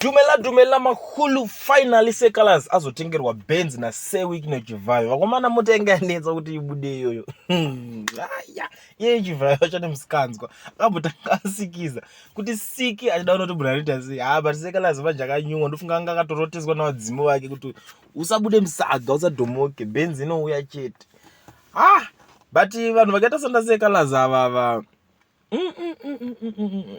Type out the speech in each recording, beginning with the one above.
Dumela Dumela Makulu finally Sekalaz azotengerwa Benz na Sewick no Chivhayo. Vakomana mota yanga yanetsa kuti ibude iyoyo. Hmm, Aya, iye Chivhayo achane musikanzwa. Akambotanga asikiza kuti Siki achida unoti Brarita sei. Ah, but Sekalaz manje akanyumwa ndofunga anga akatoroteswa na vadzimu vake kuti usabude musaga, usadomoke, Benz inouya chete. Ah, but vanhu vakaita sanda Sekalaz ava ava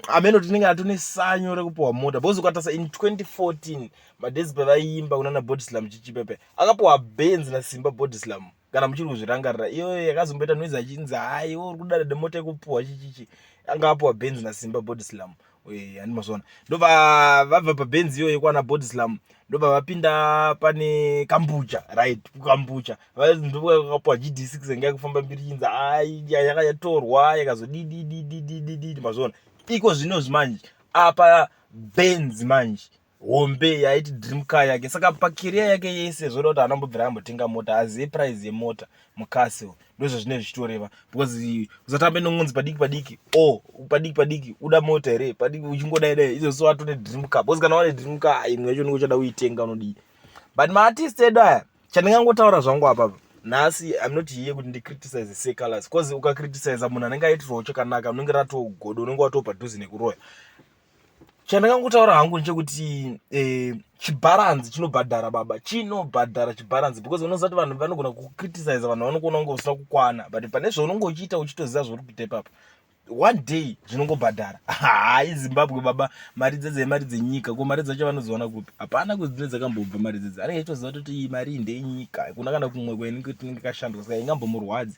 ameno tinenge atone sanyo rekupiwa mota bcause ukatarisa in 2014 madezi pevaiimba kunana bodislam chichipepe akapiwa benz nasimba bodislam kana muchiri kuzvirangarira iyoyo yakazomboita noise achinzi haiwo uri kudada nemota yekupiwa chichichi anga apiwa benz nasimba bodislam eh, handi mazvona ndobva vabva pabenzi iyoyo kwana bodislam ndobva vapinda pane kambucha right kukambucha ndokakapuwa gd six yanga yakufamba mbiri chinzi yaka yatorwa yakazodididididididi mazvona iko zvinozvi manje apa benzi manje hombe yaiti dream car yake saka pacareer yake yese zvoda kuti anambobvira ambotenga mota azive price yemota mucastle ndozvazvine zvichitoreva because usatambe nongonzi padiki padiki o oh, padiki padiki uda mota here padiki uchingodai dai izo so atone dream car because kana wane dream car imwe yacho unenge uchada kuitenga unodii but maartist edu aya chandingangotaura zvangu apapa nhasi im not here kuti ndicriticize secolors because ukacriticiza munhu anenge aitirwawo chakanaka unenge ratogodo unenge watopadhuze nekuroya chandakangotaura hangu ndechekuti eh, chibharanzi chinobhadhara baba chinobhadhara chibharanzi because unozati vanhu vanogona kucriticize vanhu vanokuona kunge usina kukwana but pane zvaunonge uchiita uchitoziva zvauri kuita ipapo one day zvinongobhadhara hai zimbabwe baba mari dzedze imari dzenyika ko mari dzacho vanozoona kupi hapana kuti dzine dzakambobva mari dzedze anenge achitoziva toti iyi mari ndeyenyika kuna kana kumwe kwainenge tinenge kashandwa saka ingambomurwadzi